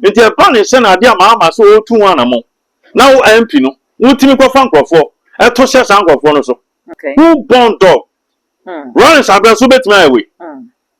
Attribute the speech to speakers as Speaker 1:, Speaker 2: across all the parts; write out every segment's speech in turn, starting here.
Speaker 1: Enti ɛba ne sɛ na ade ama ama sɛ ɔretu ho anammɔn na wo ampi no, wotumi kɔfa nkurɔfoɔ to hyɛ saa nkurɔfoɔ no so. Who born dog? Lawrence Abrɛ nso bɛtumi ayɛ wei.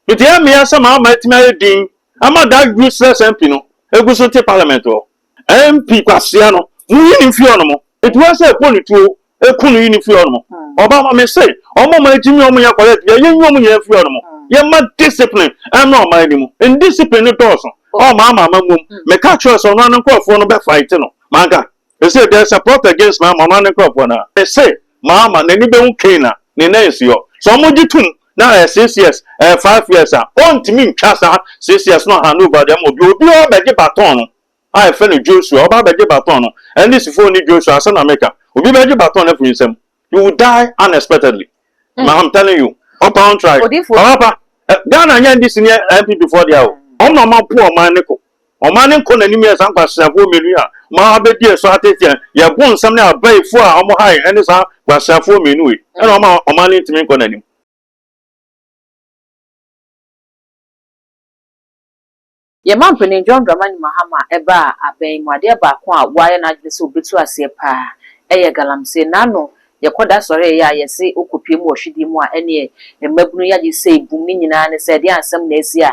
Speaker 1: Enti ɛyɛ meya sɛ ma ama atumi ayɛ din ama that useless MP no ɛgu so te parliament hɔ. MP kwasea no, monyi no mfiri hɔ nom. Enti woasɛ ɛbɔ ne tuo eku no yi ne fi hɔ nom. Ɔba ma me se ɔmo ɔmo agyimi ɔmo yɛ correct deɛ yɛnyi ɔmo nyinaa fi hɔ nom. Yɛma discipline ɛmra ɔman no mu. Indiscipline no dɔɔso ɔwɔ maa maa ma mom. Me ka kyerɛ sɛ ɔno ara ne nkorɔfoɔ no bɛ fight no. Manka ese there is a plot against maa ma ɔno ara ne nkorɔfoɔ no a. Me se maa ma n'ani bɛ hu Cain a ne nan nsi hɔ. Sɛ ɔmo gye tum na ɛyɛ six years ɛyɛ five years a ɔntumi ntwa saa six years no hand over de ama obi. Obi ara bɛ gye baton no a yɛfrɛ no Joshua, ɔba abɛgye baton no. Ɛno de sifo ne Joshua, asɛm na meka. Obi bɛgye baton no afi me nsam. You will die unexpectedly. Mm. Ma I'm telling you. Ɔpa wɔn try. Odifo. Ɔpa pa. Eh, Ghana nyɛ NDC ne NPP foɔ deɛ o. Mm. Wɔn na wɔn apo ɔman ne ko. Ɔman ne nkɔ n'anim yɛ saa nkwaseafoɔ mmienu yi a wɔn abɛdi ɛso ateteɛ. Yɛbo nsɛm ne abayifoɔ a wɔn hae ɛne saa nkwaseafoɔ mmienu yi. Ɛna wɔn a ɔman ne ntumi nkɔ n'anim.
Speaker 2: Yɛn Mampanin John Dramani Mahama a ɛbaa abɛn mu adeɛ baako a w'ayɛ n'adwene sɛ obetu aseɛ paa ɛyɛ galamsey. N'ano yɛkɔ da sɔre ɛyɛ a yɛse okɔ pue mu wɔ hwedie mu a ɛneɛ mmabunu yi agye sei bum ne nyinaa ne sɛ ɛdeɛn asɛm na asi a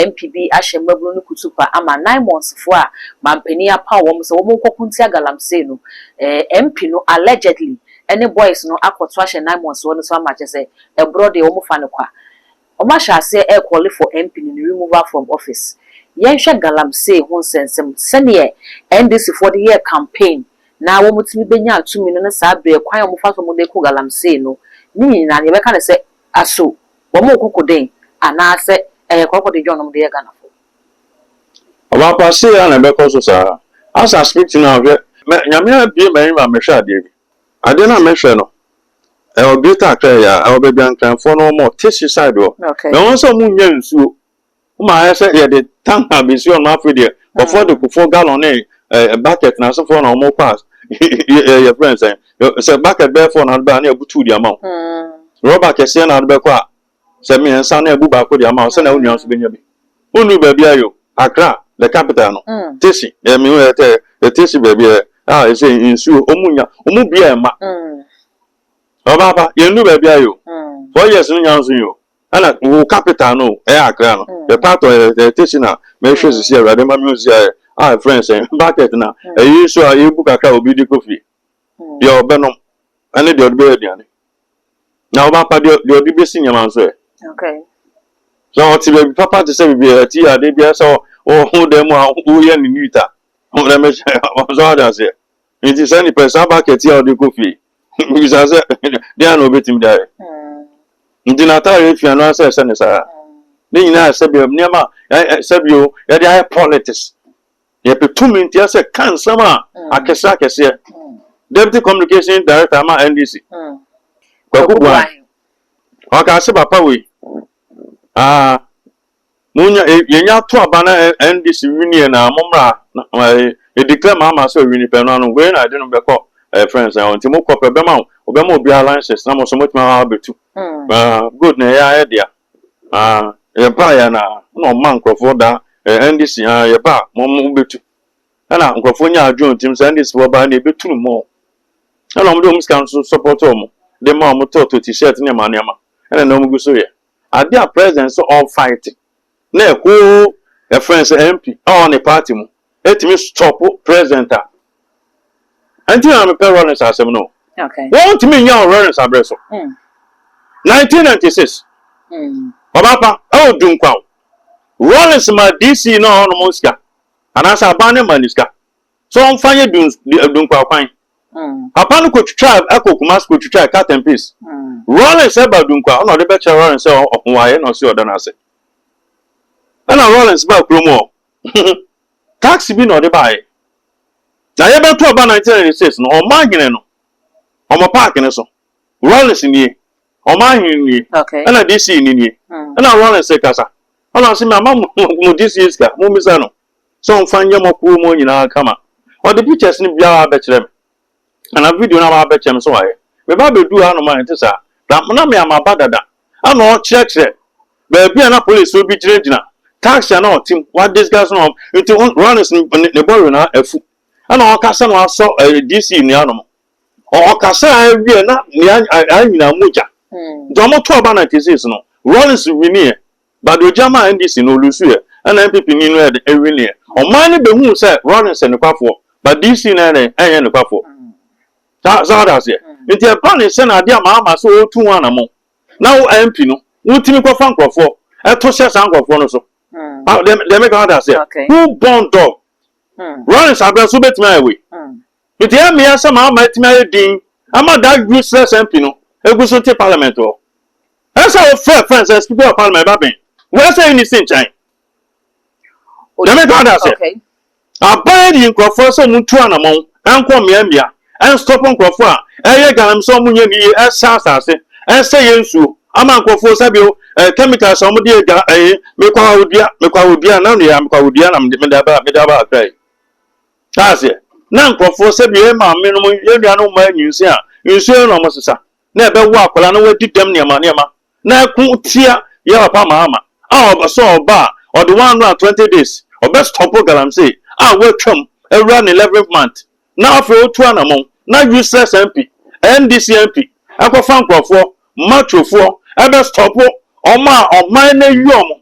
Speaker 2: NPB ahyɛ mmabunu no kutupa ama nine months foɔ a Mampanin apaw wɔn sɛ wɔn nkɔko ntia galamsey no ɛɛ MP no allegedly ɛne boys no akɔto ahyɛ nine months foɔ no so ama kyɛsɛ ɛborɔ deɛ wɔn fa no kwa. Ɔmo ahyɛ aseɛ ɛɛkɔle for MP no ne removal from office. Yɛnhwɛ Galamsey ho nsɛnsɛm, sɛdeɛ NDC foɔ de yɛɛ campaign na wɔmo tumi benyaa tumi no ne saa berɛ kwan a wɔmo fa so wɔmo de ko Galamsey no, ne nyinaa no yɛbɛka no sɛ aso wɔmo ko ko den anaasɛ ɛyɛ kɔrɔkɔdedwɔn na wɔmo de yɛ Ghana foɔ.
Speaker 1: Ɔbaa pa sei ara na ɛbɛkɔ so saa. Asa speak to now hwɛ. Nyame abue m'ani ma mehwɛ adeɛ bi. Adeɛ no a mɛhwɛ no ɛwɔ greater Accra yi ara ɛwɔ baabi a Nkranfoɔ no wɔn te suicide hɔ na wɔn sɛ wɔn nnya nsuo wɔn ayɛ sɛ yɛde tank a bɛsi hɔ no afei deɛ kɔfoɔ de kofoɔ gallon ne ɛɛ bucket na asefoɔ na wɔn kɔ a yɛ yɛfrɛ nsɛn sɛ bucket bɛyɛ four na ade bɛyɛ a na yɛbutu de ama wɔn rɔba kɛseɛ na ade bɛkɔ a Sɛ mmiɛnsa no a bu baako de ama wo sɛnea wo nua nso bɛnya bi. Wonnuu baabi ara o, Accra, the capital no, Tesi, ɛɛ mehu ɛɛ tɛ, ɛɛ Tesi baabi ɛɛ a ɛsɛ nsuo, wɔn nnya, wɔn bi a ɛma. Ɔbaapa, yɛnnuu baabi ara o, four years no nya nso yi o, ɛna wo capital no o, ɛyɛ Accra no, the part of ɛɛ ɛɛ Tesi na mɛhwɛ sisi awurade ma mehu sisi ayɛ a ɛfrɛ no sɛn, bucket na ɛyi nsuo a yɛbu kakra a obi de kɔ fie, deɛ ɔbɛnom ɛne deɛ ɔde bɛyɛ aduane. Na ɔba pa deɛ deɛ ɔde bɛsi nneɛma nso ɛ.
Speaker 2: Okay. Sɛ
Speaker 1: ɔte baabi papa te sɛ baabi a ɛte adeɛ biara sɛ ɔho dan mu a woyɛ ne neat a na mɛhyɛ ɔsɔ ade aseɛ. Nti saa nipa saa bucket a ɔde kɔ fie bisa sɛ deɛ na ɔbɛtumi de ayɛ. Mm. Nti n'ataareɛ fia no asɛ ɛsɛ ne saa. Mm. Ne nyinaa sɛbi nneɛma sɛbi o yɛde ayɛ politics. Yɛpɛ tumi ntia sɛ ka nsɛm a akɛseɛ akɛseɛ. Deputy Communications Director ama NDC, Kwaku Boahe, ɔkaa sɛ papa wei, ah, monya, eh, yɛnya ato aba na NDC winie na mommra, ɛdeclare ma ama sɛ ɔwini pɛ no ano, wei na ɛde no bɛkɔ eh, friends na nti mokɔ pɛ, bɛma wobɛma obiara license na mo nso motumi abɛtu. Ah, good na ɛyɛ ayɛ dea. Na yɛbaeɛ a na na ɔma nkorɔfoɔ da eh, NDC ha yɛba a mo mo bɛtu. Ɛna nkorɔfoɔ nyaa adwene tim sɛ NDC foɔ baa ne ɛbɛtu no mɔ. Ɛna wɔn de wɔn sika nso support wɔn de ma wɔn tɔɔtɔ t-shirt nneɛma nneɛma. Ɛna na wɔn gu so yɛ adeɛ a president sɛ ɔrefight na ɛhoo ɛfrɛ sɛ MP a ɔwɔ ne party mu ɛtumi stop president a ɛnti na mepɛ Rawlings asɛm no wɔntumi nya
Speaker 2: wɔ Rawlings
Speaker 1: aberɛ so 1996 ɔbapa ɛwɔ dunkwa o Rawlings ma DC na ɔhɔ nom sika anaasɛ aban ne ma ne sika so ɔmfa yɛ dunkwa kwan papa no kɔtwitwa ɛkɔ Kumasi kɔtwitwa cut and paste Rawlings ɛba dunkwa ɔna ɔde bɛkyerɛ Rawlings sɛ ɔhowaeɛ na ɔse ɔda no ase ɛna Rawlings ba kurom hɔ Taxi bi na ɔde baeɛ. Na yɛbɛto aba nineteen ninety six no, ɔman hene no, wɔn park no so. Rawlings nie, ɔman hene no nie, okay. ɛna DC ni nie. Mm. Ɛna Rawlings rekasa. Ɛna ɔse me ama mo DC sika, mo mmisa no. Sɛ ɔmfa nyɛ mo akuo mu nyinaa kama. Ɔde pictures no biara bɛkyerɛ me. Ana video no a wabɛkyɛ no so wayɛ? Meba beduu hanom a ɛnte saa. Na na me a maba dada. Ana ɔrekyerɛkyerɛ baabi a na polisifo bi gyinagyina, taxi a na ɔte mu, wadiscuss no wɔn. Nti ho Rollins ne ne bɔre na afu. Ana ɔrekasa na wasɔ ɛɛ DC nnua nom. Ɔ ɔkasa a awie na nea ayɛ nyinaa mogya. Nti wɔn to aba na cases no, Rollins winnie. Bado gyama NDC no ɔlusu ɛ, ɛna NPP ni no ɛdɛn ɛwini ɛ. Ɔman no bɛhuu sɛ Rawlings yɛ nokwafoɔ, but DC no ɛdɛn ɛnyɛ nokwafoɔ. Saa, saa wode aseɛ? Nti ɛba ne sɛ na adeɛ ama ama sɛ ɔretu ho anamɔn, na wo MP no, wotumi kɔfa nkorɔfoɔ ɛto hyɛ saa nkorɔfoɔ no so. Deɛ, deɛ meka wode aseɛ? Who born dog? Rawlings aberɛ so wobɛtumi ayɛ wei? Mede amee asɛm a ama atumi ayɛ dinn ama that useless MP no agu so te parliament hɔ. Ɛyɛ sɛ wofrɛ friend sɛ speaker of parliament ba bɛn wo ɛyɛ sɛ nni si nkyɛn. Nyame ka da sɛ Okay. aban yi nkurɔfoɔ sɛ ɔmo ntu anamɔn ɛnkɔ mmea mmea ɛnstop nkurɔfoɔ a ɛyɛ galamsey sɛ ɔmo nyɛ ne yie ɛsɛ asase ɛsɛ yɛ nsuo ama nkurɔfoɔ sɛ bio ɛɛ chemicals a ɔmo de yɛ ga ɛɛ mekɔ awodua mekɔ awodua na nea mekɔ awodua na mede mede aba mede aba akra yi. Taa aseɛ. Na nkorɔfoɔ sɛdeɛ yɛn maame nom yɛn nuanom mmaa nyinsen a nsuo yɛ na wɔn sesa na ɛbɛwo akwadaa na wadi dɛm nneɛma nneɛma na ɛko tia yɛn papa maama a ɔbɛsɔ ɔba a ɔde one hundred and twenty days ɔbɛ stɔpo galamsey a watwam awura ne eleventh month na afei otu anamɔn na useless MP NDC MP ɛkɔfa nkorɔfoɔ machofoɔ ɛbɛ stɔpo wɔn a ɔman no ayi wɔn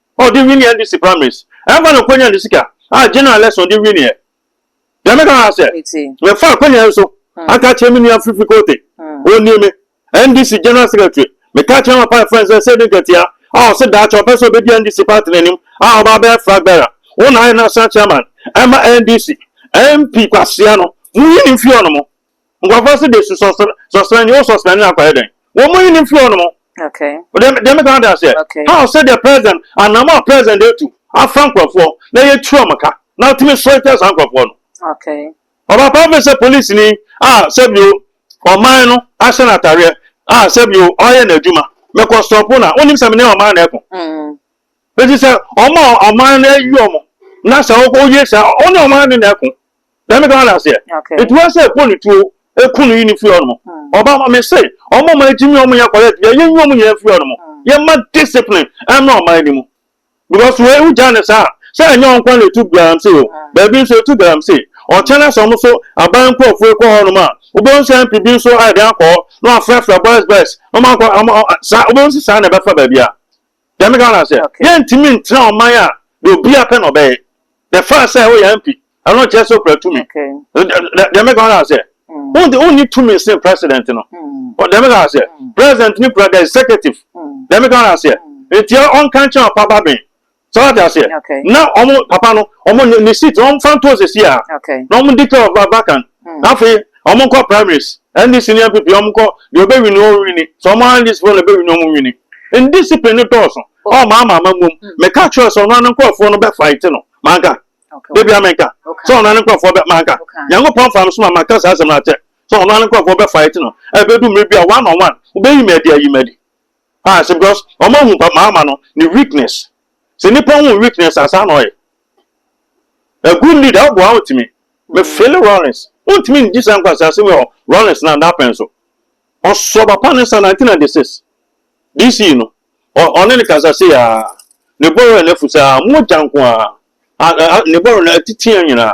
Speaker 1: a ɔde winii NDC primaries ɛmfa no Kwanya Ndusika a general election ɔde winiiɛ. Deɛ meka ara sɛ, mefaa Kwanya nso aka akyerɛ me nua Fifi Kote, ɔnni me NDC general secretary, meka akyerɛ Amapa yɛ friends sɛ Seydi Nketia a ɔse daakye ɔpɛ sɛ ɔbɛdi NDC party no anim a ɔba abɛyɛ flag bearer, wo na ayɛ national chairman ɛma NDC, MP Kwasea no, monyi no mfiri hɔ nom. Nkurɔfoɔ nso de su sɔsrɛ sɔsrɛ ne, wo sɔsrɛ ne akɔyɛ dɛn? Wɔn mu nnim firi wɔn mu. Okay. Deɛ deɛ
Speaker 2: meka ade aseɛ.
Speaker 1: Okay. How sɛ deɛ president anam a president de tu afa nkurɔfoɔ na yɛtu wɔn ka na tumi sɔre tia saa nkurɔfoɔ no. Okay. Ɔba
Speaker 2: paa bɛ sɛ
Speaker 1: polisi ni a sɛbio ɔman no ahyɛ no atareɛ a sɛbio ɔyɛ n'adwuma mɛkɔ stɔpo na wonim sɛ mene ɔman na ɛko. Mm. Eti sɛ ɔma ɔman no ayi ɔmo na sɛ woyɛ saa ɔne ɔman no na ɛko. na meka hɔ n'aseɛ nti wɔn sɛ ɛbɔ ne tuo ɛku no yi ne firi hɔ nom ɔba ma me se ɔmo ɔmo agyi mi ɔmo yɛ kɔrɛ bi ɛyɛ nyi ɔmo nyinaa firi hɔ nom yɛ ma discipline ɛmɛ ɔmo ayɛ ne mu because wei wo gya ne saa sɛ ɛnyɛ wɔn kwan na etu galamsey o baabi nso etu galamsey ɔkyɛn na sɛ wɔn nso aban nkurɔfoɔ ekɔ hɔ nom a wobɛn sɛ npp nso ayɛ de akɔ na wafrɛfrɛ boys boys na wɔn akɔ wɔn saa wobɛn si saa na ɛbɛfa baabi a Deɛ meka no sɛ, yɛntumi ntena ɔman a deɛ obiara pɛ na ɔbɛyɛ. The fact sɛ woyɛ MP, ɛno nkyerɛ sɛ wokura tumi. Deɛ meka no sɛ, wonde wonni tumi sen president no. Deɛ meka sɛ, president no kura the executive. Deɛ meka no sɛ, nti ɔnka nkyɛn ɔpa ba ben. Sɛ wate aseɛ, na ɔmo papa no, ɔmo ne seat, ɔmo fa nto sɛsi a, na ɔmo declare vacant. na afei wɔn nkɔ primaries ndc ne npp wɔn nkɔ deɛ ɔbɛwini wɔn wini sɛ wɔn ara ndc foɔ na ɛbɛwini wɔn wini ndiscipline no dɔɔso ɔwɔ maa ama ama muom meka kyerɛ sɛ ɔno ano nkorɔfoɔ no bɛ fight no manka debia menka sɛ ɔno ano nkorɔfoɔ bɛ manka nyankopɔn fa mesoma maka saa asɛm no akyɛ sɛ ɔno ano nkorɔfoɔ bɛ fight no ɛbɛdu mmere bi a one on one wobɛyi madi ayi madi ah sɛ because wɔn ahu pa maa ama no ne weakness sɛ nipa hu weakness asaa na ɔyɛ A good leader ɔboa a ɔntumi. Me feel Rawlings ɔntumi ndi saa nkwaseasɛm yi wɔ Rawlings na daa pɛn so. Ɔsɔ papa ne nsa 1996 DC no ɔne no kasa sei aa ne bɔrɔ na afu saa mogya nko aa ne bɔrɔ no atiti nyinaa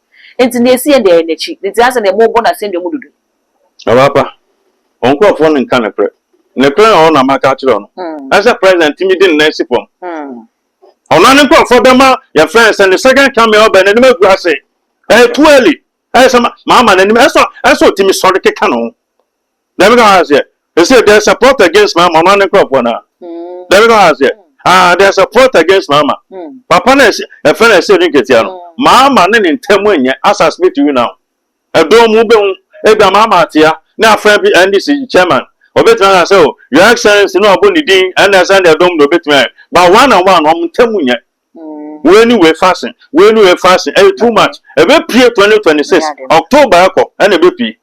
Speaker 2: Enti nea esi yɛn deɛ, ɛyɛ n'akyi. Ne ntease deɛ, morebɔ no asɛnnua mu dodo. Ɔbaapa,
Speaker 1: wo nkurɔfoɔ no nka nokorɛ. Nokorɛ a ɔwɔ no na maka akyerɛ wo no, ɛne sɛ President tumi de ne nan si fam. Ɔno ara ne nkurɔfoɔ bɛma yɛfrɛ no sɛ ne second coming ɔbɛn, n'anim agu ase. Ɛyɛ too early. Ɛyɛ sɛ mama n'anim, ɛsɛ sɛ ɔtumi sɔre keka ne ho. Dabi ka ɔha seɛ, ɛsɛ there is a plot against mama ɔno ne nkorɔfoɔ no a. Dabi ka ɔha seɛ, ah there is a plot against mama. Papa no ɛsɛ ɛfɛ no ɛsɛ ne nketewa no. Mama ne ne ntam nyɛ asas bi to you now. Ɛdɔɔ mu bɛhu ebi a mama atea ne afrɛ bi NDC chairman ɔbɛtumi aka sɛ oh your excellency na wabɔ ne din ɛna ɛsɛ ne ɛdɔm na ɔbɛtumi ayɛ but one and one wɔn ntam nyɛ. Wei ne wei fasen wei ne wei fasen ɛyɛ too much ɛbɛpie 2026 October ɛkɔ ɛna ɛbɛpie.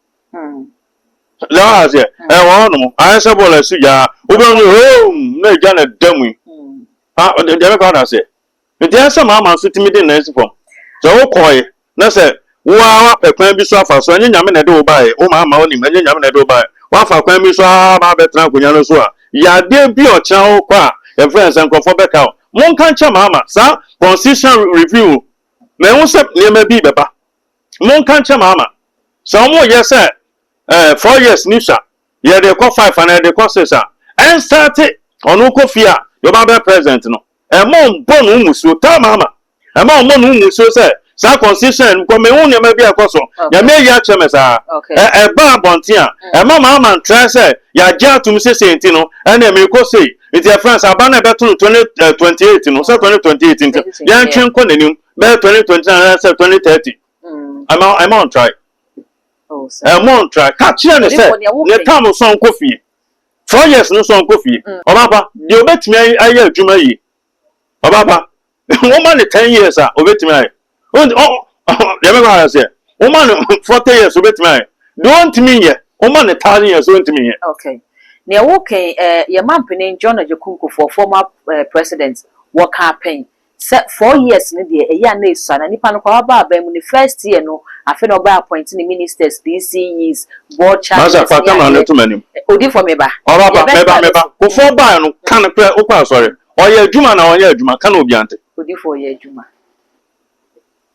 Speaker 1: Yaa aseɛ ɛyɛ wɔn hɔnom ayɛ sɛ bɔɔl ɛsi gyaa wobɛhu no hoom na egya na ɛda mu yi ha ɔde deɛ bɛkɔ ada aseɛ nti ayɛ sɛ maama nso tumi de nan si fam sɛ wokɔɔye na sɛ wo ara wapɛ kwan bi so afa so ɛnyɛ nyame na ɛde wo baeɛ wo maama wonim ɛnyɛ nyame na ɛde wo baeɛ wafa kwan bi so aa ba abɛtena akonnwa no so a yɛ adeɛ bi a ɔkyena wokɔ a yɛfrɛ no sɛ nkurɔfoɔ bɛka wo monka nkyɛ maama saa constitution review mɛhu sɛ nneɛma bi bɛba Monka nkyerɛ Maama sɛ wɔn yɛ sɛ eh four years ni sha yɛ de kɔ five anaa yɛ de kɔ six a ɛn starte ɔno kɔ fie a deɛ ɔba bɛyɛ president no ɛma ɔnbɔ no musuo tell Maama ɛma ɔnbɔ no musuo sɛ saa constitution no kɔ me hu nneɛma bi a ɛkɔ so nyame ayi akyerɛ me saa ɛ ɛba abɔnten a ɛma Maama ntrae sɛ yagye atom sɛ sei nti no ɛnna me kɔ sei nti ɛfrɛ sɛ aba no ɛbɛto no twenty twenty eight no sɛ twenty twenty eight nti yɛntwe nkɔ n'anim bɛyɛ twenty twenty nine anaasɛ twenty thirty ɛma mm. ɛma ɔn try ɛma ɔn try ka kyerɛ ne sɛ ne tam sɔn kɔ fie four years no sɔn kɔ fie mm. ɔbaapa deɛ obetumi ayɛ adwuma yie ɔbaapa wɔn ma ne ten years a obetumi ayɛ ɔn ɔn deɛ bɛ kɔ ara sɛ wɔn ma ne forty years obetumi ayɛ deɛ ɔntumi yɛ wɔn ma ne thousand years ɔntumi yɛ. okay nea
Speaker 2: wɔkɛn ɛɛ yɛ mampanin john ajakunko for former eh, president wɔka apɛn. Sɛ four years no deɛ ɛyɛ a na ɛsua na nipa no koraa waba aban mu ne first year no afei na ɔbɛ appoint ne ministers, PCEs, board chairmen ne adeɛ.
Speaker 1: Odifo me ba.
Speaker 2: Yɛbɛ tra ne
Speaker 1: so. Wo four baeɛ no ka no korɛ wokɔ asɔre? Ɔyɛ adwuma anaa ɔnyɛ adwuma ka na obiara nte. Odifo ɔyɛ adwuma.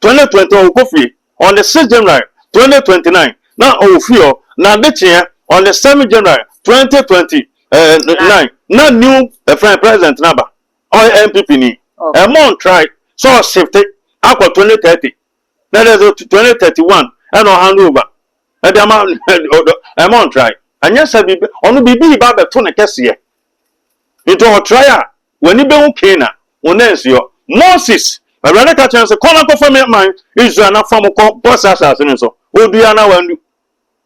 Speaker 1: twenty twenty one ɔkɔ fie on the six January twenty twenty nine na ɔwɔ fie hɔ na ade kyeɛ on the seven January twenty twenty nine na new ɛfɛn eh, president no aba ɔyɛ NPP ni ɛmɔ ntrae sɛ ɔsifte akɔ twenty thirty na ɛdɛ sɛ twenty thirty one ɛna ɔhand over ɛde ama ɛmɔ ntrae ɛnyɛ sɛ biribi ɔno biribi ba abɛto ne kɛseɛ Ntsi ɔtseae a, w'enyi behu Canaan, wo nan so yɔ. Moses, Ewuradze ka kyerɛɛ no se, Kɔ na kɔfa me man Israel na fa mo kɔ bɔhyɛ asaase no so. Odu anaa ɔanndu?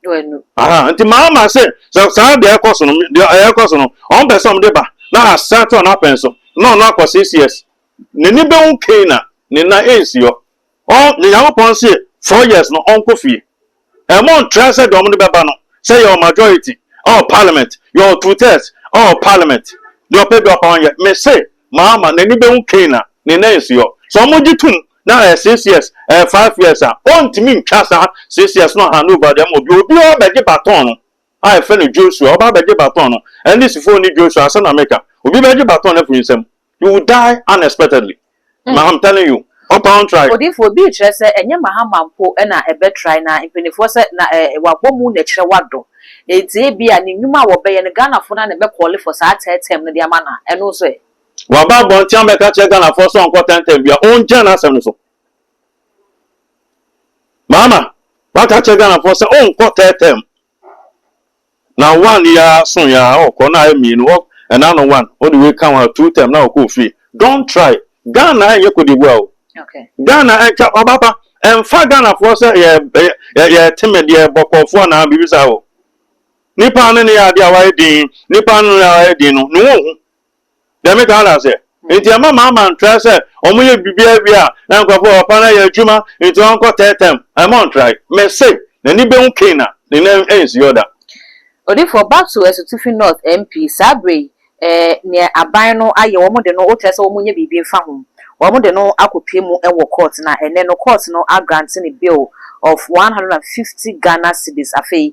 Speaker 1: Oennu. Aha, ntsi maa ɔmaa se, sɛ saa dze ɛkɔ so no, dze ɛkɔ so no, ɔmmpɛ se ɔmde ba na asan tɔ n'apɛn so, na ɔno akɔ se, Yes, n'enyi behu Canaan, ne nan ennsi hɔ. Ɔn yɛ Nyankopɔn se four years no ɔnkɔ fie. Ɛmo ntra sɛ deɛ ɔmo de bɛba no sɛ yɛwɔ majority ɛwɔ parliament, yɛwɔ two thirds ɛwɔ parliament, deɛ ɔpɛ biara ɔpɛ ɔnyɛ. Me se Mahama n'ani bɛhu Cain a ne nan nsi hɔ. Sɛ ɔmo gye tom na ɛyɛ six years, ɛyɛ five years a, ɔntumi ntwa saa six years no hand over de ama obiara. Obiara bɛgye baton no a yɛfrɛ no Joshua, ɔba abɛgye baton no. Ɛnde Sifo ne Joshua, asɛm na meka. Obi bɛgye baton no afi me nsam. You will die unexpectedly. Mm. I'm telling you. Ɔpa wɔn trae. Odiyifoɔ, bi rekyerɛ sɛ
Speaker 2: ɛnyɛ Mahama mpo na ɛbɛtrae na mpanimfoɔ sɛ na eh, wabɔ mu na ɛkyerɛ wadɔ. Enti ebia ne nnwuma a wɔbɛyɛ no Ghanafoɔ no ara na ɛbɛkɔɔle for saa third term no de ama no a, ɛno nso ɛ? Waba abɔnten
Speaker 1: abɛka akyerɛ Ghanafoɔ sɛ ɔnkɔ third term bio a, ɔngyaa n'asɛm no so. Maama, waka akyerɛ Ghanafoɔ sɛ ɔnkɔ tɛɛtɛɛ mu. Na one yi ara so yi ara ɔkɔ na ayɛ mmienu hɔ ɛna ano one ɔde wei ka ho a two term na ɔkɔ ofie. Don't try. Ghana ɛnyɛ Cote d'Ivoire o. Ghana
Speaker 2: ɛntwa ɔbaba
Speaker 1: ɛnfa Ghanafoɔ sɛ yɛ yɛ yɛ teme deɛ bɔkɔɔfoɔ anaa biribi saa o. Nipa no ne yɛ adeɛ a wayɛ din nipa no ne yɛ ayɛ din no ne ho nhu. Deɛ me kaa no aseɛ nti ɛma maa ma ntrae sɛ ɔmo yɛ biribiaa wie a na nkorɔfoɔ wɔ papa no ayɛ adwuma nti ɔnkɔ third term ɛma ɔntrae me se n'ani bɛhu Cain a ne nan ɛnsi hɔ da. Odifoɔ,
Speaker 2: back to Asutifi North MP, saa berɛ yi eh, neɛ aban no ayɛ, wɔn de no, wokyerɛ sɛ wɔn nyɛ biribi mfa ho, wɔn de no akɔ pie mu wɔ court, na ɛnnɛ no court no a grante no bail of one hundred and fifty Ghana cedis, afei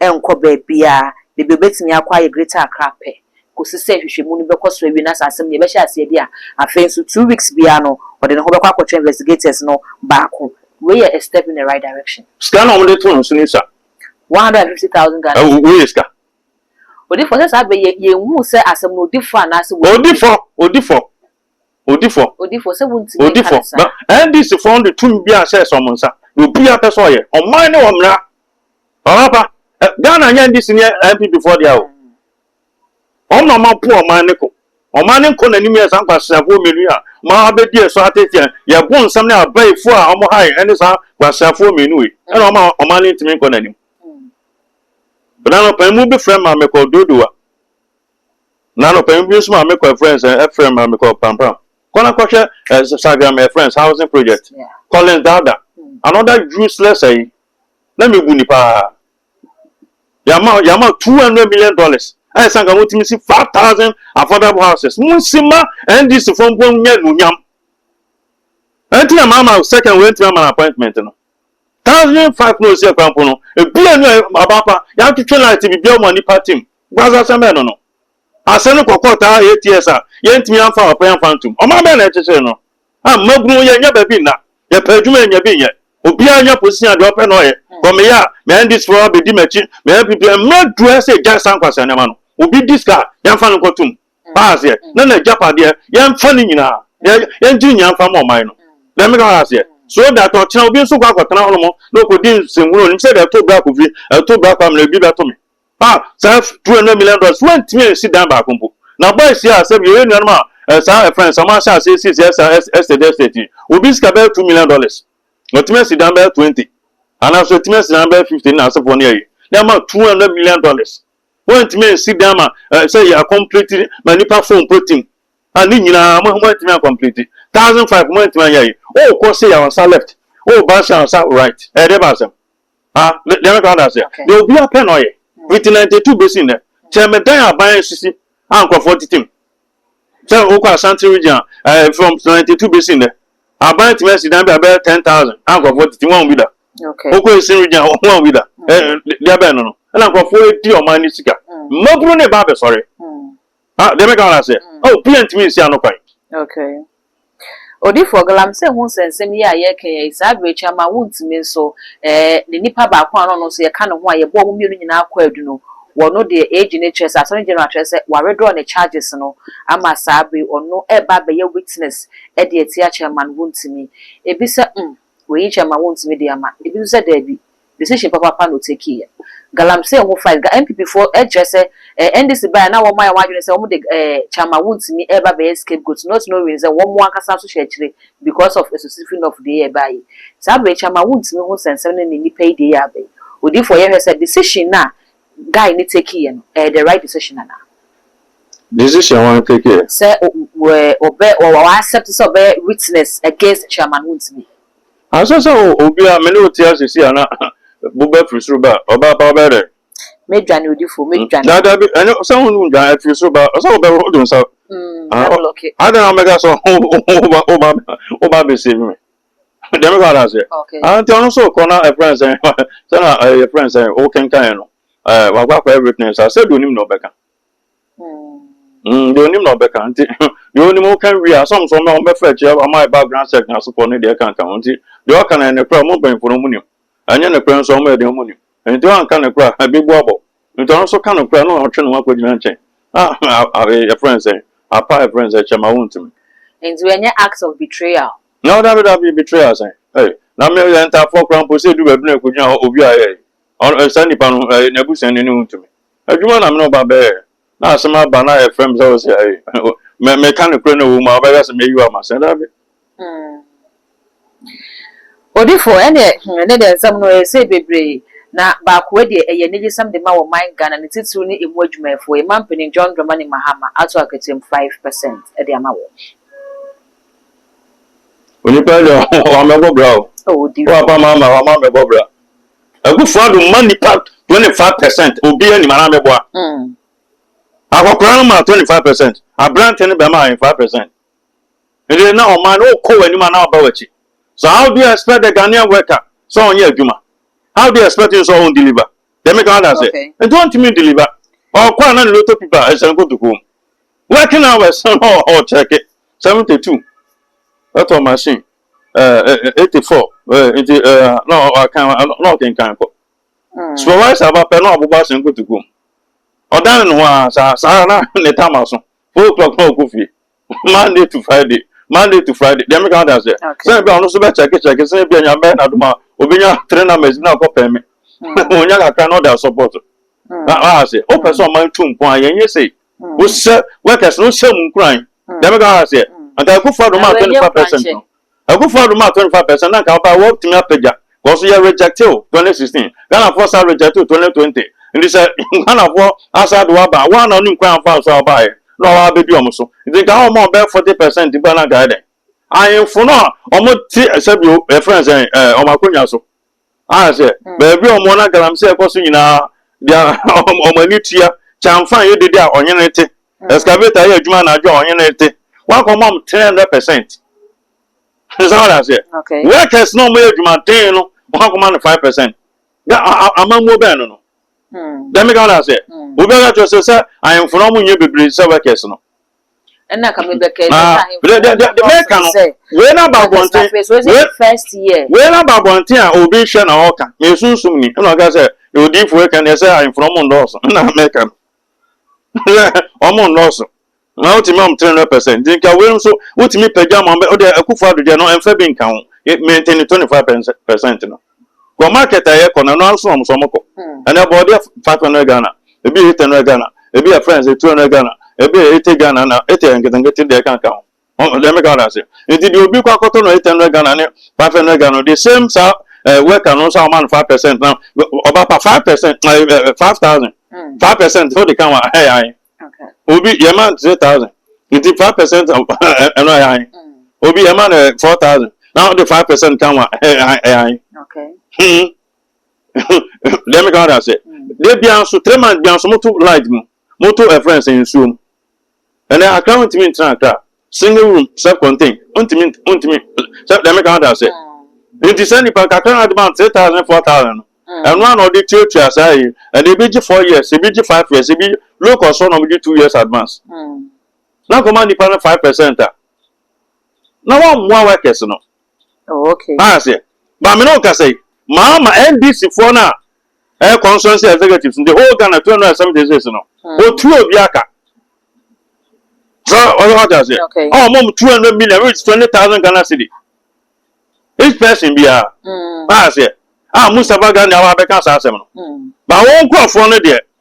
Speaker 2: nkɔ baabiara, baabi a obetumi akɔ ayɛ Greater Accra pɛ, kosi sɛ nhwehwɛmu no bɛkɔ so awie na sɛ asɛm no yɛbɛhyɛ aseɛ de a, afei nso two weeks biara no ɔde ne ho bɛkɔ akɔkyerɛ investigators no baako. Wei yɛ a step in the right direction. Sika no a wɔde too no so no
Speaker 1: sua. One hundred and fifty
Speaker 2: thousand Ghana cedis. Wei yɛ sika.
Speaker 1: Odifo,
Speaker 2: sɛ saa bɛ yɛ, yɛn hu sɛ asɛm no odi fɔ anaasɛ. Odi fɔ, odi fɔ.
Speaker 1: Odifo. Odifo, sɛ wuntumi nka Odifo,
Speaker 2: no saa.
Speaker 1: na NDCfoɔ no de tumi biara hyɛɛ sɛ wɔn nsa, deɛ obiara pɛ sɛ ɔyɛ, ɔman ne ɔmmra. Papaapa, ɛ, Ghana nyɛ NDC ne NPPfoɔ dea o. Wɔn na wɔapo ɔman ne ko. Ɔman ne nkɔ n'anim yɛ saa nkwasiafoɔ mmienu yi a wɔabɛdi ɛso ateteɛ, yɛ bo nsɛm ne abayifoɔ a wɔhae ɛne saa nkwasiafoɔ mmienu wei, ɛna wɔma ɔman no ntumi nkɔ n'anim. Bena anɔpa yi, mobɛfrɛ ma mekɔ Dodowa. Na anɔpahema bi nso maame kɔ ɛfrɛ nsɛn ɛfrɛ ma me kɔ pampram kɔ na kɔhwɛ ɛ saga ma ɛfrɛ nsɛn housing project Collins Dada another useless ɛyi na me bu ni paa yama yama two hundred million dollars ɛyɛ sɛ nka mo tumi si five thousand affordable houses mo nsi ma NDC fo mpo nyɛ nunyam ɛnti na maama second wei ntumi ama na appointment no thousand five na osi ɛkwan po no ebi enu aba pa yɛatwetwe light bibia wɔn nipa team. Guasa asɛm bɛn no no? Asɛm no kɔkɔɔ taa yɛ tears a yɛntumi amfa ɔpɛ amfa antom. Ɔman bɛn na ɛkyekyere no? Ah, mmabunu yɛnnya baabi nna, yɛpɛ adwuma yɛnnya bi nyɛ, obiara nya position a deɛ ɔpɛ na ɔyɛ, kɔ meyɛ a me NDC foɔ abɛdi m'akyi, me NPP a, mmerɛ aduru a ɛsɛ yɛgyae saa nkwasea nneɛma no. Obi di sika a, yɛmfa no nkɔtom. Wahɛ aseɛ? Na n'agyapadeɛ, yɛmfa ne nyinaa, yɛngye ne nyinaa mfa mma ɔman no. Dɛm meka wahɛ aseɛ? So that ɔkyena obi nso kɔ akɔtena hɔnom na ɔkɔdi nsɛnhunu a ɔnim sɛ deɛ ɛto bra Kofi, ɛto bra Kwamina, ebi bɛto me. a saa two hundred million dollars wantumi ansi dan baako mpo na bɔ ahyia a sɛbi yɛyɛ nuanom a eh, saa ɛfrɛ no sɛ ɔmo ahyɛ ase sisi ɛsa estate estate yi obi sika bɛyɛ two million dollars ɔtumi asi dan bɛyɛ twenty anaasɛ ɔtumi asi dan bɛyɛ fifty na asefoɔ no yɛyi na ama two hundred million dollars wɔntumi ansi dan ma eh, sɛ yɛ akɔmpliti ma nipa fo mpo tim a ne nyinaa mo mo antumi akɔmpliti thousand five mo antumi anyɛ yi ɔɔkɔ se yɛ ɔnsa left ɔɔba se ɔnsa right ɛyɛ dɛ ba asɛm. Ah, ne deɛ mɛka ɔda aseɛ. Deɛ obiara pɛ na ɔyɛ. Fiti 92 bɛsi nnɛ. Kyɛ medan aban asisi a nkurɔfoɔ tete mu. Sɛ wokɔ Asante region a, eh, from 92 bɛsi nnɛ, aban atumi asi dan bi a bɛyɛ 10,000 a nkurɔfoɔ tete mu, wɔn bi da. Okay. Wokɔ Eastern
Speaker 2: region
Speaker 1: a, wɔn bi da. Eh, deɛ bɛn no no. Ɛna nkurɔfoɔ di ɔman no sika. Mmabunu ne ba abɛsɔre. Ah, deɛ mɛka ara sɛ, oh, obiara ntumi nsia no kwan. Okay.
Speaker 2: Odifoɔ Galam, sɛ hu sɛ nsɛm yi a yɛreka yi, saa abirekyie ama wontumi nso, eh, ne nipa baako a ɔno nso yɛka ne ho a yɛboa wɔn mmienu nyinaa kɔ adu no, wɔno deɛ age no kyerɛ sɛ, Asɔre General akyerɛ sɛ wɔawedraw ne charges no ama saa bere yi, ɔno ɛreba abɛyɛ witness ɛde atia Chairman, wontumi. Ebi sɛ, mm. Wei kyɛ ma wontumi de ama. Ebi nso sɛ daabi, decision papaapa na otakeeɛ. Galamsey ho fight, ga NPP foɔ kyerɛ sɛ ɛɛ NDC baeɛ a na wɔayɛ wɔn adwene sɛ wɔn de ɛɛ Kyama Wontumi reba abɛyɛ scapegoat not knowing sɛ wɔn ankasa nso hyɛ akyire because of asusufi nɔf deɛ ɛbaeɛ yi. Saa berɛ yi Kyama Wontumi ho nsɛnsɛm ne ne nnipa yi deɛ yɛ aba yi. Odiyifoɔ yɛhwɛ sɛ decision no a guy no take yɛ no ɛyɛ the right decision anaa.
Speaker 1: Decision wan take yɛ. Sɛ
Speaker 2: ɔbɛ ɔbɛ wa accept sɛ ɔbɛyɛ witness against chairman wontumi. Ansɛ sɛ
Speaker 1: o obi a me ne wo te ase si a na bo bɛ firi soro ba ɔbaa pa ɔbɛyɛ dɛn. Mɛ dwane odifo
Speaker 2: mɛ dwane. Daa daa bi ɛne sɛ ho
Speaker 1: dwane ɛfiri soro ba ɔsɛ ɔbɛ ho do nsa.
Speaker 2: Adan ɔmɛka sɛ
Speaker 1: ɔba ɔba ɔba bɛ save me. Deɛ meka no aseɛ. Okay. Ah, nti ɔno so kɔ na ɛfrɛ nsɛn sɛ na eh, yɛfrɛ nsɛn wokenkan no eh, wakɔ akɔyɛ witness a sɛ deɛ onim na ɔbɛka Mm, deɛ onim na ɔbɛka nti deɛ onim woka wie a sɔm so ɔmɛ ɔmɛfa akyi ama yɛ background check na asopɔ ne deɛ ɛkanka ho nti deɛ ɔka no ɛne korɛ ɔmo mpanyinfoɔ no ɔmo nim Anyɛ nokorɛ nso ɔma ɛde ɔmo nim. Enti ɔanka nokorɛ a, ɛbebu abɔ. Enti ɔno nso ka nokorɛ a, na ɔtwe ne ho akɔgyina nkyɛn. Ah, ah, ee, yɛfrɛ no sɛn? Apa, yɛfrɛ no sɛn? Kyɛma, wontumi. Enti ɛnyɛ
Speaker 2: act of betrayal? No, dabi, dabi,
Speaker 1: betrayal sɛn? Ei, na me, yɛn ntaafoɔ koraa mpo, sɛ ɛduru baabi na yɛkɔgyina hɔ, obi a, ei, ɔno, ei, saa nipa no, ei, n'abusuani no, wontumi. Adwuma na me ne wo ba bɛyɛɛ. na asɛm aba na ɛfrɛ me sɛ wɔ sɛ ayi meka no korɛ na ɛwɔ mu a wobɛka sɛ mayi wɔ amasɛ daabi
Speaker 2: Odifo, ɛne ɛne deɛ nsɛm no ɛyɛ sei bebree, na baakoa deɛ ɛyɛ anigyesɛm de ma wɔ man Ghana ne titiriw ne ɛmu adwumayɛfoɔ, yɛn man panin John Dramani Mahama ato akatua mu five percent de ama wɔ.
Speaker 1: Onipa deɛ wamɛbɔ bra o, wɔ apa
Speaker 2: ma ama wama mɛbɔ bra.
Speaker 1: Akufo Addo mma nnipa 25 percent obiara nim anaa mɛboa. Mm. Akɔkora no ma 25 percent, aberante no bɛma ayɛ 5 percent. Ɛdeɛ na ɔman no ɔkɔ w'anim anaa ɔba w'akyi. So how do you expect the Ghanaian worker sɛ ɔnyɛ adwuma? How do you expect him sɛ ɔn deliver? Deɛ meka wada sɛ, nti ɔntumi deliver. Ɔkɔ a na ne loto pipa ɛhyɛ no kotokuo mu. Working hours na ɔkyɛke 72 ɛtɔ machine. Eighty four nti na ɔkan na ɔkenkan kɔ supervisor aba pɛ na ɔbobɔ ahyɛ nkotoku mu ɔdan ne ho ara saa saa na ne tam aso four o'clock na ɔkɔ fie monday to friday monday to friday deɛ meka wode aseɛ sɛne bi a ɔno nso bɛkyɛke kyɛke sɛne bi a nyame bɛyɛ n'adom a obɛnya three numbers bi na ɔkɔ pɛn me ɔnya kakra na ɔde asɔpɔto na ɔha ase wopɛ sɛ ɔman tu mpɔn a yɛnyɛ sei Wohyɛ workers no hyɛ mu nkuran. Deɛ meka ha sɛ anka akufo adom a 25 percent no akufo adom a 25 percent na anka ɔba wɔtumi apagya kɔso yɛ rejecte o 2016 Ghanafoɔ sa rejecte o 2020 nti sɛ Ghanafoɔ asa de waba a wɔn na wɔn nkuran fa so a wɔbaeɛ na wɔn abɛdi wɔn so nti nka wɔn a wɔn bɛyɛ 40 percent mpo na anka ayɛ dɛn ahemfo no a wɔn te sɛbi o ɛfrɛ sɛn ɛɛ wɔn akonnwa so. ahwɛ sɛ hmm. baabi a wɔn na galamsey ɛkɔ so nyinaa deɛ wɔn ani tua kyanfan yɛ dede a ɔnye ne te hmm. excavator yɛ adwuma anadwo a ɔnye ne te wakɔ mɔm three hundred percent nsa wɔn aseɛ workers na wɔn
Speaker 2: yɛ adwuma
Speaker 1: ten no wɔn akɔma no five percent na amammuo bɛn no no dɛm ka wɔn aseɛ obi aka kyerɛ sɛ sɛ ahemfo na wɔn nyɛ bebree sɛ workers no
Speaker 2: ɛna ka mi bɛkɛ ɛsɛ sɛ
Speaker 1: ahemfo wei na ba abɔnten
Speaker 2: wei na ba abɔnten a
Speaker 1: obi hwɛ na ɔka na esunsum ni ɛna ɔka sɛ odiifo ɛka na ɛsɛ ahemfo ɔmo ndɔɔso ɛna mɛka no ɔmo ndɔɔso na wotumi ɔmo three hundred percent nti nka wei nso wotumi pɛgya ma ɔmo ɔde akufo ado deɛ no ɛnfɛ bi nka ho mɛntɛn twenty five percent no. Kɔ market a yɛkɔ no, ɛno ara nso na wɔn nso wɔkɔ. Ɛnna bɔɔde yɛ five hundred Ghana, ebi yɛ eight hundred Ghana, ebi yɛ friends two hundred Ghana, ebi yɛ eighty Ghana na eighty yɛ nketenkete deɛ ɛka nka ho. Ɔn deɛ meka wɔn ase. Nti deɛ obi kɔ akɔtɔ no eight hundred Ghana ne five hundred Ghana no, the same saa ɛɛ worker no nso a wɔma no five percent na ɔba pa five percent ɛɛ five thousand five percent na ɔde ka ho a, ɛyɛ ahe? obi yɛ man three thousand nti five percent ɛno ɛyɛ an obi yɛ man four thousand na ɔde five percent kan wa ɛyɛ an deɛ mi kan ɔda ase deɛ bia nso three months bia nso mo to light mu mo to ɛfrɛn sɛ nsuo mu ɛnna akra ntumi ntena akra. Single room, self contain, ontumi ontumi sɛ dɛm kan da sɛ. Nti sɛ nipa kakra na ɔde ma no three thousand four thousand no. Ɛno a na ɔde tuatua saa yi. Ɛna ebi gye four years, ebi gye five years, ebi low cost hɔ na ɔmo gye two years advance. Na nkɔma nipa no five percent a. Na wɔmmoa workers no. Oh okay.
Speaker 2: Maa aseɛ. Ba
Speaker 1: me ne wo kasa yi. Maa ma NDC foɔ no a Ɛyɛ constituency executives in the whole Ghana two hundred and seventy six no otua obi aka sɛ ɔyɛ hɔ ase ɔwɔ mɔm two hundred
Speaker 2: million
Speaker 1: which is twenty thousand Ghana cedi each person biara ɔyɛ aseɛ a Mustapha Ghani awa abɛka saa asɛm no ba wɔn nkurɔfoɔ no deɛ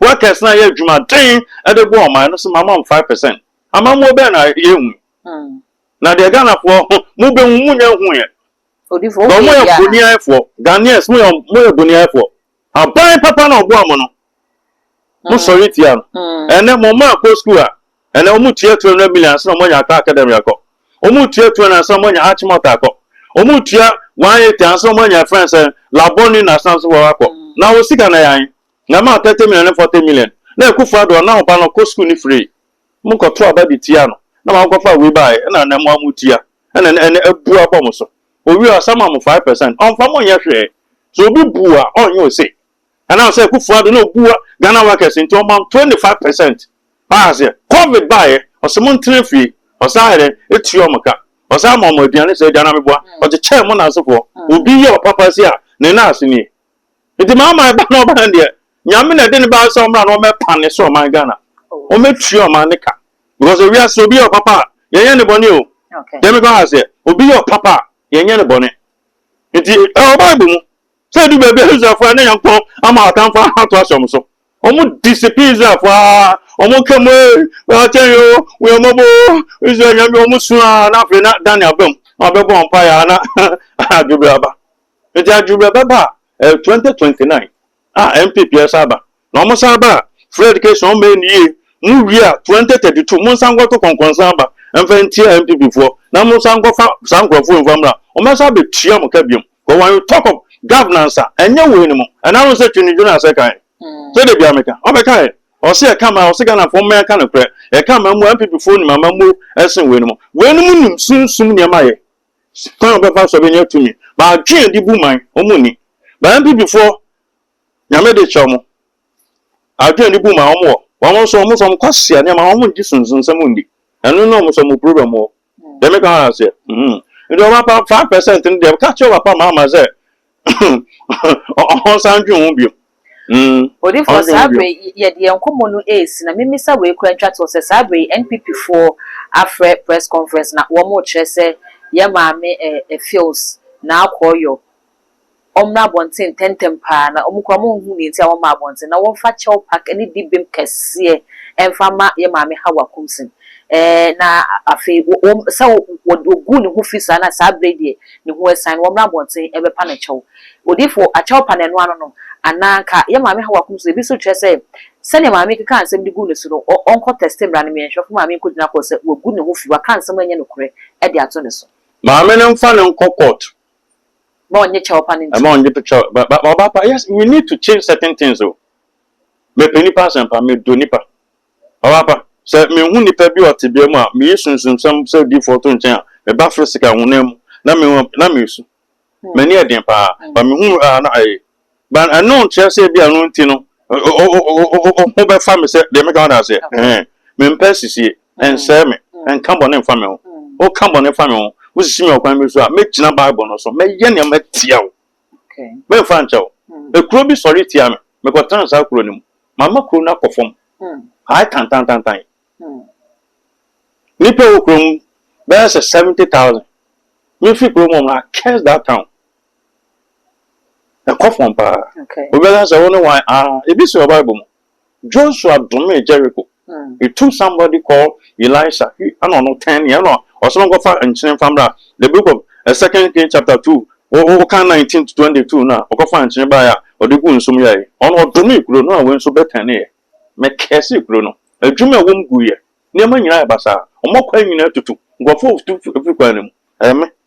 Speaker 1: Workers no a yɛ adwuma den de boa ɔman no so ma wɔn five percent. Amammuo bɛn na yɛnhu? Na deɛ Ghanafoɔ ho mobɛhu mo nyɛ nhuuɛ. Ba mo
Speaker 2: yɛ
Speaker 1: boniayɛfoɔ. Ghanaians mo yɛ mo yɛ boniayɛfoɔ. Aban papa na ɔboa mo no. Mo sɔre tia no. Ɛnɛ mo mma kɔ school a ɛnɛ wɔn tua two hundred million ansa na wɔn anya akɔ academy akɔ. Wɔn tua two hundred ansa na wɔn anya arch malt akɔ. Wɔn tua one eighty ansa na wɔn anya friends sɛ labɔni na asan so wɔn akɔ. Na wɔ sika na yɛn. Na ɛmaa thirty million ne forty million. Na Akuffo Addo a na ɔba no ɔkɔ sukuu no firii. Mo kɔtoo aba de tiaa no. Na wɔn kɔfaa wei baaɛ ɛna ɛnɛ mo a mo tia. Ɛna ɛnɛ ɛnɛ abu abɔ mo so. Owie a ɔsan ma mo five percent. Ɔnfa mo nyɛ hwɛɛ. Sɛ obi bu a ɔnyɛ ose. Ɛnam sɛ Akuffo Addo na obu a Ghana workers nti ɔma no twenty five percent. Wate aseɛ. Covid baaɛ ɔse mo ntena fie. Ɔsan ayɛ dɛn atua wɔn ka. Ɔsan ma wɔn aduane saa aduane a meboa. Ɔkyekyɛɛ mo nansefoɔ. Obi yɛ ɔpapa si a ne nan ase nie. Nti maa maa ɛba na ɔba no deɛ nyame na ɛde ne ba sɛ ɔmra na ɔmɛpa ne so ɔman Ghana ɔmɛtua ɔman ne ka because ewiase obi yɛ ɔpapa a yɛnyɛ ne bɔne o deɛ meka ha sɛ obi yɛ ɔpapa a yɛnyɛ ne bɔne nti ɛwɔ bible mu sɛ ɛdu baabi a israelfoɔ ne nyankopɔn ama atamfo ato ahyɛ ɔmo so ɔmo disipin israelfoɔ a ɔmo ka mu ee akyɛn yɛ o wɔyɛmɔbɔ o israel nyame ɔmo su a na afei na daniel bɛm na ɔbɛbɔ ɔmpa yɛ a na adwobere aba Enti adwene bi a ɛbɛba a, ɛyɛ 2029 a NPP ɛsan aba. Na wɔn san ba a, free education wɔn mmɛyɛ no yie. Mo wie a 2032 mo nsan nkɔto kɔnkɔnsa aba mfa ntia NPP foɔ na mo nsan nkɔfa saa nkorɔfoɔ yi mfa mmra. Wɔn bɛsan abɛtua mo ka biom. Because when you talk of governance a, ɛnyɛ wei no mu. Ɛna wohu sɛ Twene Jonas ɛka yɛn. So da biara meka. Ɔbɛka yɛn. Ɔse yɛka mmaa, ɔse Ghanafoɔ momma yɛnka nokorɛ. Yɛka amammuo a, NPP foɔ nim amammuo ɛsen wei no mu. Wei no mu nim sunsum nneɛma yɛ. kwan a wɔbɛfa so bɛnya tumi. But adwene a yɛde bu man, wɔn nni. But NPP foɔ, Nyame de kyɛ wɔn. Adwene a yɛde bu man, wɔn wɔ. Wɔn nso, wɔn nso, wɔn kwasea nneɛma, wɔn ngye sunsumsɛm nni. Ɛno ne wɔn nso wɔn problem wɔ. Deɛ meka ho ara aseɛ. Nti ɔba pa, five percent no deɛ, ka kyerɛ ɔba pa Mahama sɛ, Ɔnsan ntwe ho bio.
Speaker 2: Odiyifoɔ, saa berɛ yi yɛde yɛn nkɔmmɔ no resi, na memmisa wei koraa ntwa toɔ sɛ, saa berɛ yi NPP foɔ afrɛ press conference na wɔrekyerɛ sɛ yɛn maame eh, Fios Narkooyo ɔmmra abɔnten ntɛntɛm paa, na wɔn koraa wɔnhu deɛ nti a wɔmmaa abɔnten, na wɔmfa Kyɛw Park ne Dibem kɛseɛ mfa mma yɛn maame Hawa Kumsin eh, na afei wɔn, sɛ wɔgu ne ho fi saa no a, saa berɛ yi deɛ ne ho asiane, wɔmmra abɔnten mmɛpa no kyɛw. Odiyifo, akyɛw pa na ɛno ano no? Anaa anka yɛ maame haw akum so? Ebi nso kyerɛ sɛ, sɛnea maame kekaa nsɛm de guu ne so no, ɔnkɔ tɛste mmra no mmea. Nhwɛfo maame nkogyina kɔ sɛ wagu ne ho fi, waka nsɛm a ɛnyɛ nokorɛ de ato ne so. Maame no mfa no
Speaker 1: nkɔ court. Mma ɔnnye
Speaker 2: kyɛw pa no ntom. Mma ɔnnye kyɛw
Speaker 1: pa no. Ɔbaa pa, yes, we need to change certain things o. Mepɛ nnipa asɛmpa, medɔ nnipa. Ampa, sɛ mihu nipa bi wɔ tebea mu a miyi sunsumsɛm sɛ odiyifo to nkyɛn a, me ba foro sika honam mu, na me ho na mesu. M'ani yɛ den paa, ma mihu a na ɛyɛ. But ɛno nkyerɛ sɛ ebia ɛno nti no, wo ho bɛfa me sɛ deɛ meka wate aseɛ. Ɛhɛn. Mempɛ asisie. Ɛnsɛe me. Ɛnka bɔne mfa me ho. Woka bɔne fa me ho, wosisi me ɔkwan bi so a, mɛgyina Bible no so, mɛyɛ nea matia wo. Meremfa
Speaker 2: nkyɛ wo.
Speaker 1: Ekuro bi sɔre tia me. Mekɔtena saa kuro no mu. Mama kuro no akɔ fam. Ae tantantantan. Nnipa wɔ kuro mu bɛyɛ sɛ seventy thousand. Mefi kuro mu na curse that town. Ɛkɔ fam paa. Obi bɛka sɛ wo ne
Speaker 2: wan?
Speaker 1: Ah, ebi si wɔ Bible mu. Joshua domee Jericho, he took somebody called Elisha na ɔno ten yɛ na ɔsɛ ɔnkɔfa nkyene mfa mbra, the book of second king chapter two wo kan nineteen to twenty two no a ɔkɔfa nkyene baeɛ a ɔde guu nsu mu yɛɛe, ɔno ɔdomee kuro no a wei nso bɛ tɛneeɛ, mɛ kɛɛsee kuro no, adwuma a ɛwɔ mu guiɛ, nneɛma nyinaa yɛ basaa, wɔn akwan nyinaa tutu, nkurɔfoɔ retu firi kwan no mu, ɛyɛ me.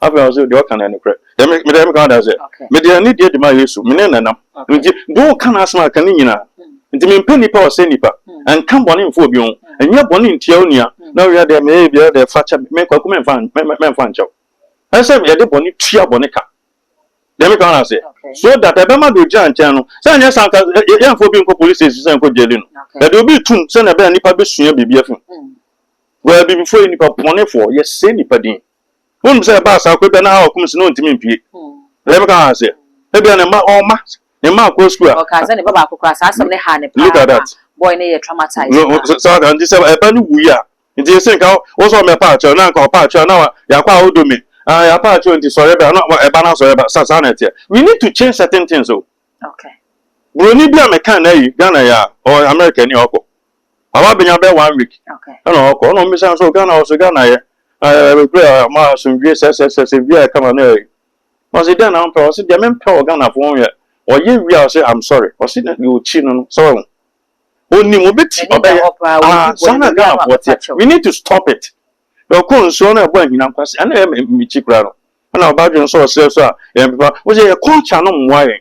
Speaker 1: Afei ɔno sɛ deɛ ɔka no yɛ nokorɛ. Deɛ me deɛ meka adan sɛ, mede anidie de ma Yesu, me ne no nam. Nti deɛ ɔka n'asɛm a ka ne nyinaa. Nti mempɛ nipa a ɔsɛe nipa. Nka bɔne mfa obi ho. Nyɛ bɔne ntia wo nua. Na wei deɛ meyɛ biara deɛ fa kyɛ me. Me Kwaku memfa memfa nkyɛ wo. Ɛsɛ sɛ yɛde bɔne tua bɔne ka. Deɛ meka no aseɛ. So that ɛbɛma deɛ ɔgyina nkyɛn no, sɛ anyɛ saa nka yɛmfa obi nkɔ police station sɛ nkɔ gyeli no. Yɛde obi retum sɛdeɛ ɛbɛyɛ a nipa bɛsua biribi afi mu. Wo Abibifoɔ yɛ nnipa bɔnefoɔ, yɛsɛe nnipa din. Wonim sɛ ɛbaa saa kwa bi a na Hawa kum se na ɔntumi mpue. Rebeka kaa sɛ, Ebia ne mma, ɔwɔ mma, ne mma akɔ sukuu a. Ɔkaa sɛ ne ba
Speaker 2: baako koraa, saa asɛm no
Speaker 1: haa no
Speaker 2: paa ma boy no yɛɛ traumatized paa. Saa nti
Speaker 1: sɛ ɛba no wuiɛ a, nti ese nka wo sɛ ɔmmɛpa akyɛw, na nka ɔpa akyɛw a na yɛakɔ a wodɔ me, ah yɛapa akyɛw nti sɔre bra, na ɛba no asɔre ba, sa saa na ɛteɛ. We need to change certain things o.
Speaker 2: Buroni bi
Speaker 1: a mekaa no ayi Ghana yi a, ɔwɔ America ni a ɔkɔ. Mama benya bɛyɛ one week ɛna ɔkɔ ɛna
Speaker 2: ɔmmisa no
Speaker 1: sɛ o Ghana ɔse Ghana yɛ ɛɛ bere a ma asomdwie sɛsɛsɛsɛ wie a ɛka ma no ɛɛ ɔse dɛn na wompɛ ɔse deɛ mempɛ wɔ Ghana fo ho yɛ ɔyɛ wie a ɔse I'm sorry ɔse na deɛ ɔkyi no no sɛ wahu ɔnim ɔbɛti ɔbɛyɛ ah saa na Ghana foɔ teɛ we need to stop it na ɔkɔ nsuo no ɛbɔ ahina nkwasi ɛna ɛyɛ mekyi koraa no ɛna ɔba adwene sɛ ɔsrɛ so a yɛn pepa ɔse yɛ culture no mmoa yɛn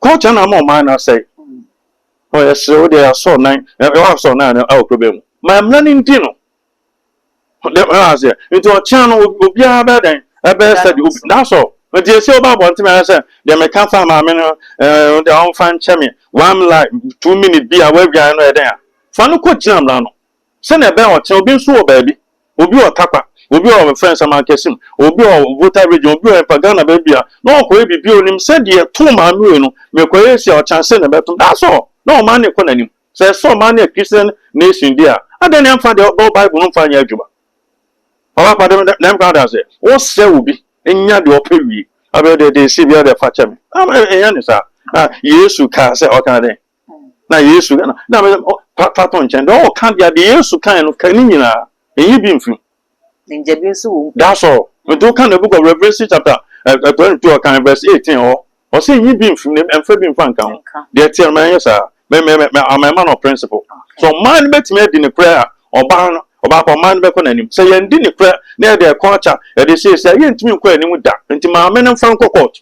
Speaker 2: Culture na ama
Speaker 1: ɔman no asɛe. Ɔ yɛsrɛ wo deɛ asɔr nan ɛwɔ asɔr nan no ɛwɔ problem mu. Ma mmra no ndi no. Deɛ ɛwɔ aseɛ. Nti ɔkyena no obiara bɛyɛ dɛn ɛbɛyɛ sɛdeɛ obi that's all. Nti ɛsɛ woba abɔnten ayɛ sɛ deɛ meka faa maame no ɛɛ ɔde ɔmfa nkyɛ me one like two minute bi a woawian no ɛyɛ dɛn a. Fa no kɔ gyina mmra no. Sɛnea ɛbɛyɛ a ɔkyena obi nso wɔ baabi, obi wɔ Takwa, obi wɔ wɔfrɛ no Saman-Kɛse mu, obi wɔ Volta Region, obi wɔ hefa, Ghana baabi a, na ɔkɔyɛ biribi a onim sɛ deɛ ɛtoo maame wei no, mekɔyɛ asi a, ɔkyena sei na ɛbɛto me. That's all! Na ɔman no rekɔ n'anim. Sɛ ɛsɛ sɛ ɔman no yɛ Christian nation deɛ a, adɛn na yɛmfa deɛ ɛwɔ Bible no mfa nyɛ adwuma? Papa Kwadwo, me dɛm koraa da sɛ wosrɛ obi nya deɛ ɔpɛ wie. Afei deɛ, deɛ ɛsii biara deɛ fa kyɛ me. Ɛnyɛ ne saa. Na Yesu kaa sɛ, ɔkaa dɛn? na yesu na na mese ɔ fa fa to nkyɛn deɛ ɔka deɛ deɛ yesu kan no ka ne nyinaa ɛnyi bi mfiri mu ngya bi nso wɔ mu that's all nti woka the book of revelation chapter eh, eh, 22 ɔkan verse 18 hɔ ɔsɛ nyi bi mfiri mu na ɛmfa bi mfa nka ho nka deɛ teɛ no ma ɛnyɛ saa mɛ mɛ mɛ mɛ- ama ɛma no principle so ɔman no bɛtumi adi ne korɛ a ɔbaa no ɔbaa kɔ ɔman no bɛkɔ n'anim sɛ yɛndi ne korɛ na yɛde ɛkɔ akya yɛde siesie a yɛntumi nkɔ anim da nti maame no mfa nkɔ kɔɔto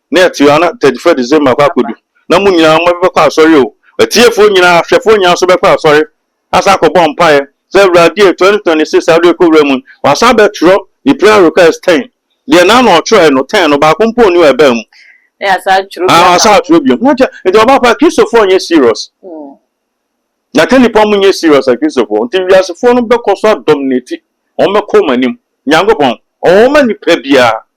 Speaker 1: na ɛte ara na thirty first December akɔ akɔdu na mo nyinaa mo bɛkɔ asɔre o, atiefoɔ nyinaa, ahwɛfoɔ nyinaa nso bɛkɔ asɔre asan akɔbɔ mpaeɛ sɛ Awurade e, twenty twenty six a wode rekɔ wura mu yi, wasan abɛtwerɛ ne prayer request ten, deɛ na na ɔtwerɛɛ no ten no baako mpo nni hɔ a ɛbaa mu. Na yɛasan atwerɛ
Speaker 2: bi aka ho. Ah, wɔasan atwerɛ bio. Na
Speaker 1: kyɛ, nti ɔbaa pa, Kristofoɔ nyɛ serious. Na ka nipa mo nyɛ serious a Kristofoɔ. Nti wiasefoɔ no bɛkɔ so adominate, wɔn bɛkɔ wɔn anim. Nyankopɔn, ɔwɔ ma nipa biara,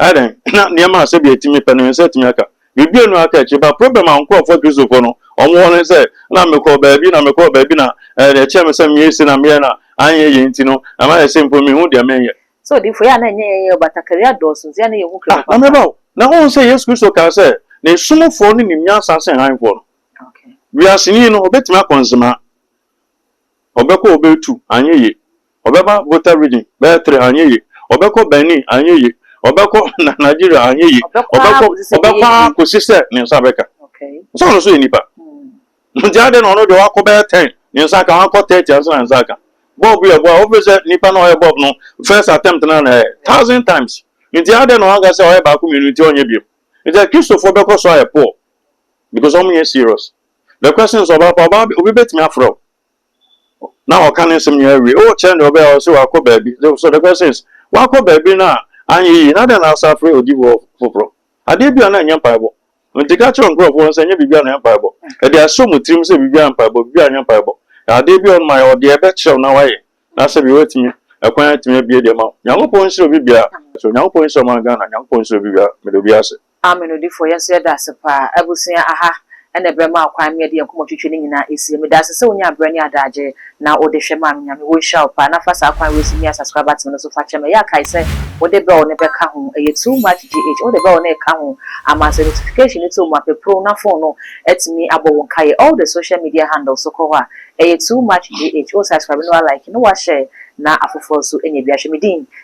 Speaker 1: Ɛyɛ dɛn na nneɛma a sɛdeɛ ɛtumi pɛ no yɛn nsa atumi aka? Yɛdua no ara ka akyire ba. Problem a nkorɔfoɔ Kristofoɔ no wɔn wɔ ne sɛ, na mekɔɔ baabi na mekɔɔ baabi na ɛɛ deɛ ɛkyɛɛ me sɛ meyɛ sei na meyɛɛ na anyɛ yie nti no ɛma yɛ sɛ mpo menhu deɛ menyɛ. Sɛ odiyifoɔ yɛ a na ɛnyɛ yɛn yɛ o, batakari adɔɔso nti a na yɛnhu Kristo papa. Ah, na mereba o. Na wohu sɛ Yesu Kristo kaa sɛ N'asomfoɔ no nim nyansa sen Hanfoɔ no. Wiase ni no, ɔbɛtumi akɔ nzema. Ɔbɛkɔ Obey two, anyɛ ye. Ɔbɛba Volta Region, bɛyɛ three, anyɛ ye. Ɔbɛkɔ Benin, anyɛ ye. Ɔbɛkɔ Nigeria, anyɛ ye. Ɔbɛkɔ, ɔbɛkɔ ara kɔsi sɛ ne nsa bɛka. Nsa no nso yɛ nipa. Nti adɛn na ɔno deɛ wakɔ bɛyɛ ten, ne nsa aka, wakɔ thirty ansa na ne nsa aka. Bulb yɛ boa, wofiri sɛ nipa no a ɔyɛ bulb no first attempt no ara na ɛyɛ, thousand times. Nti adɛn na wanka sɛ ɔyɛ baako mmienu nti ɔnyɛ bio. Nti Akristofoɔ bɛkɔ so ayɛ poor because wɔnyɛ serious. The question is ɔbaa pa ɔbaa bi obi betumi afrɛ wo na ɔka ne nsɛm nyinaa wie o kyerɛ deɛ ɔbɛyɛ a ɔse wakɔ baabi so the question is wakɔ baabi no a anyɛ yie na dɛn na asa afrɛ odifoɔ foforɔ adeɛ bi a na ɛnyɛ mpaebɔ nti ka kyerɛ nkurɔfoɔ no sɛ ɛnyɛ biribi a na ɛyɛ mpaebɔ ɛde ahyɛ wɔn tirim sɛ biribi a mpaebɔ biribi a ɛnyɛ mpaebɔ adeɛ bi a ɔnoma yɛ ɔdeɛ ɛbɛkyerɛ wo na wayɛ na sɛ bi watumi ɛkwan atumi abie deɛ ma wo nyankopɔn nhyira obi biara so nyankopɔn nhyira ɔman Ghana nyankopɔn nhyira obi biara meda obi ase. Amen odifo yɛn nso
Speaker 2: yɛda ase paa abusua aha ɛna ɛbrɛ maa kwan me yɛde yɛn nkɔmɔ twitwi ne nyinaa ɛsie meda ase sɛ wonya abrɛ ne adaagye na wode hwɛ maame nyame wo nhyira wo paa na fa saa kwan wei so mia subscribe button no so fa kyɛ me ɛyɛ a kae sɛ wode bell no bɛka ho ɛyɛ too much GH wode bell no ɛka ho ama sɛ notification no to mu a peprow na phone no atumi abɔ wo nkaeɛ all the social media handle so kɔ hɔ a ɛyɛ too much GH wo subscribe na wa like na wa share na afoforɔ nso anya bi ahwɛ me din